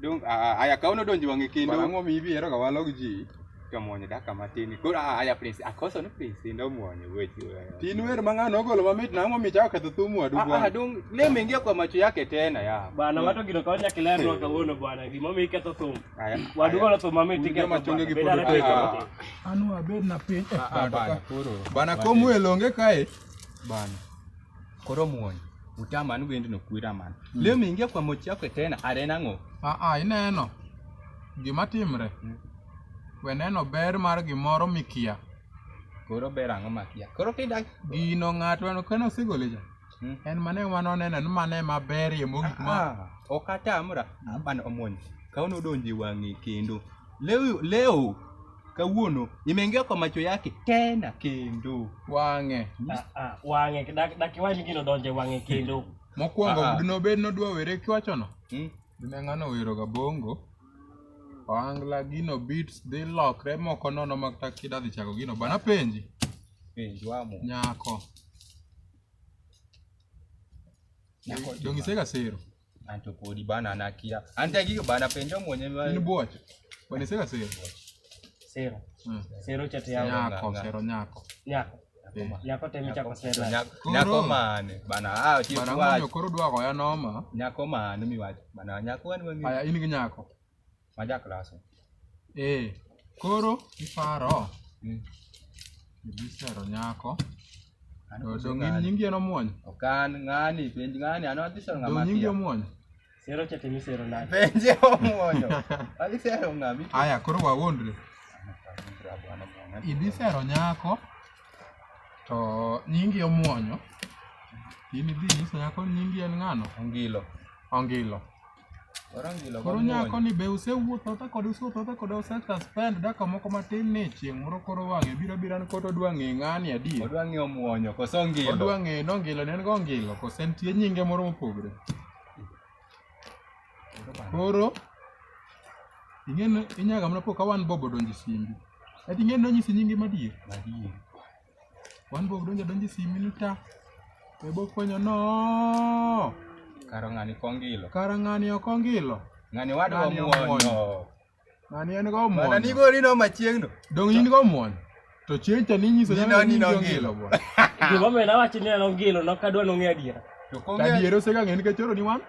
Dong aya kaono donjo wang'e kendo. Bana ng'omi ibi ero kawalo gi ji. To muonyo daka matin. Koro aya prince akoso ni prince ndo muonyo wechi. Tin wer mang'ano ogolo mamit na ng'omi chao ketho thumu wadu bwana. Ah dong le mengia kwa macho yake tena ya. Bana wato gino kaonya kilero kawono bwana. Gimo mi ketho thumu. Wadu golo thumu mamit iketho. Gima chonge gi podo te. Anu abed na piny. Bana komu elonge kae. Bana. Koro muony. Utama ni wendi no kwira man. Mm. Leo mingia kwa mochi yako tena arena ngo. Ah ah ineno. Gima timre. Mm. We neno ber mar gimoro mikia. Koro ber ang'o makia. Koro kinda gino ng'ato no kano sigole ja. Mm. En mane mano neno ni mane maber ye mogik ma. Ah, ah. Okata amra. Mm. Abana omuony. Kaono donje wang'e kendo. Leo leo kawuono imeingia kwa macho yake tena kendo. Wang'e. Ah, ah, Wang'e dak dak iwach gino donje wang'e kendo. Mokwongo Ah, ah. dinobed nodwa were kiwachono. Hmm? Dine ng'ano wero gabongo. Ohangla gino beats dhi lokre moko nono ma kata kida dhi chako gino. Bana penji. Penj wamo. Nyako. Nyako Dongisega sero. Anto podi bana anakia. Ante gigo bana penjo mwenye mwa. Ni boche. Bana sera sera. Sera. Mm. Sero chate yao. Nyako, sero nyako. Nyako. Eh. Nyako temi chako sera. Nyako, nyako mane. Bana ah chief wa. Bana mwenye koro dwa ko ya noma. Nyako mane mi wa. Bana nyako wani mwenye. Aya ini nyako. ma ja klase. Ee, koro iparo Mm. ibisero nyako An to koso dong in ng'ani. nyingi en omuony Ok an ng'ani, penj ng'ani, an adhi sero ng'ama dong nyingi akia. omuony Sero cha temi sero nade? Penje omuonyo. Adhi sero ng'ami. aya koro wawuondre idhi sero nyako to nyingi omuonyo in idhi nyiso nyako ni nyingi en ng'ano Ongilo. ongilo Koro nyako ni be usewuotho ta kode usewuotho ta kode use suspend dakika moko matin ni chieng' moro koro wang'e biro biro an koro odwa ng'e ng'ani adi. Odwa ng'e omuonyo koso ongilo. Odwa ng'e no ngilo ne en go ngilo koso en tie nyinge moro mopogre. Koro ing'e ni inyaga mana po ka one bob odonjo e simbi. Ati ing'e ni nonyisi nyinge madier? Madier. One bok donjo donjo e simi ni ta. To bok fwenyo no. Karo ng'ani kongilo. Kara ng'ani ok ongilo. Ng'ani wadwa Ng'ani omuonyo. omuonyo. Ng'ani en go Mana ni muonyo. gori no machiegno. Dong in go muonyo. To chieng' cha ninyiso Ni no, ni no ongilo. bwana. Gima omiyo nawacho ni an ongilo, nok adwa nong'e adiera. To To kong'e adier osega ng'e nikech oro ni wan.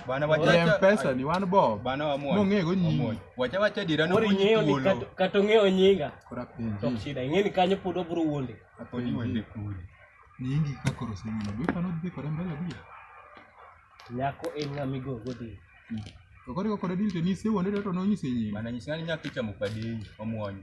Bana wacha Wacha- wacha. Mpesa ni wan bob. Bana wamuonya. Mong'e go nyinyi. Wamuonya. Wacha wacha dira no Mori kunyi ing'eyo ni thuolo. kato- kato ng'eyo nyinga Kora to ok penji. shida ing'e ni kanyo pod obro wuonde Kodi wende kuli. Nyingi ka koro semina. Be pano dhi kore mbele bi. nyako en ng'a migogo dhi To kore kore dil to ni se wonde to no nyise nyingi. Bana nyisani nyakicha mupadei. Wamuonya.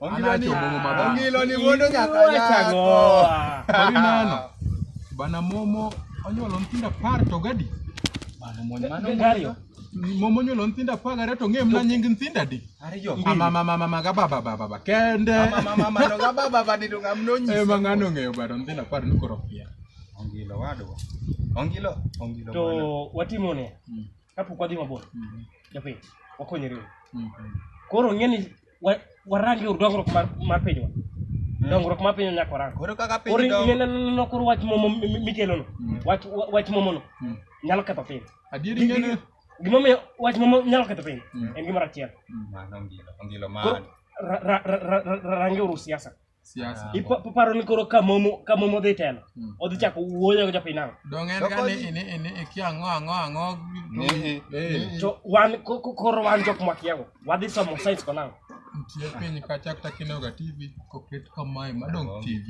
ongilo ni wuondo nyaka nyakoineno bana momo onyuolo nyithindo apar to gadi momo onyuolo nyithindo apar gariyo to ng'e mna nying nyithindo adi amamamamama gababababa kende ema ng'ano ong'eyo bado nyithindo apar nikoro pia ongilo wadwa ongilo ongilo to watimo ne kapok wadhi mabor japiny wakonyore koro ng'eni wa- warang yor dongruok mar, mar pinywa dongruok mar pinywa nyaka warang Koro kaka piny koro dongo. ineno koro wach momo mi- mi- mikelono Mm. wach wa- wach momono Mm. nyalo ketho piny Adieri Gi- ngene. gi- gimomiyo wach momo nyalo ketho piny Mm. en gimoro achiel Mano ngilo, ngilo Koro man. ra- ra- ra- ra- ra- rangeuru siasa siasa. Ipo- Iparo ni koro ka momo ka momo dhi telo. Mm. Odhi chako wuoyo gi jopiny nang'o? Donge en Doko ga ni ji. ini ini iki ang'o ang'o ang'o. Nihi. Eh, To wan ko- ko- koro wan jok mwakiago. Wadhi somo science ko nang'o? Nitie piny kacha kata kineno ga TV koket kamae madong TV.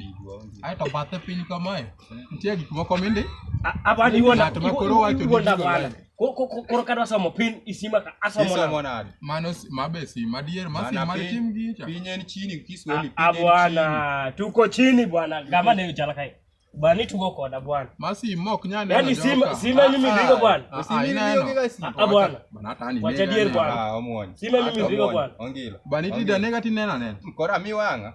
Ae to bathe piny kamae. Nitie gik moko mindi. A- Abana iwuonda. Ng'at ma koro wacho ni Iwuonda iwuonda. bwana. koro kadwa somo pin isima ka asomo nade mano mabe si madier masi mar tim gicha piny en chini kiswahili ah, piny ah, bwana tuko chini bwana gama ne uchala kai bwana tuko koda bwana masi mok nyane yani sima sima mimi ah, ndiko bwana sima mimi ndiko sima bwana bwana hata ni wacha dier bwana sima mimi ndiko bwana ongila bwana ti danega ti nena nena kora mi wanga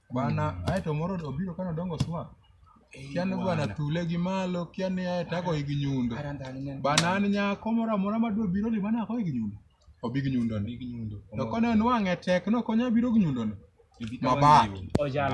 Bana, ae to moro obiro kane odongo swak. Kia ni bwana thule gi malo, kia ni ae to agoyi gi nyundo. Bana an nyako moro amora ma dwa biro ni bana agoyi gi nyundo. Obi gi nyundo ni. To kane onwang'e tek, nokonya biro gi nyundo ni. Mabaki.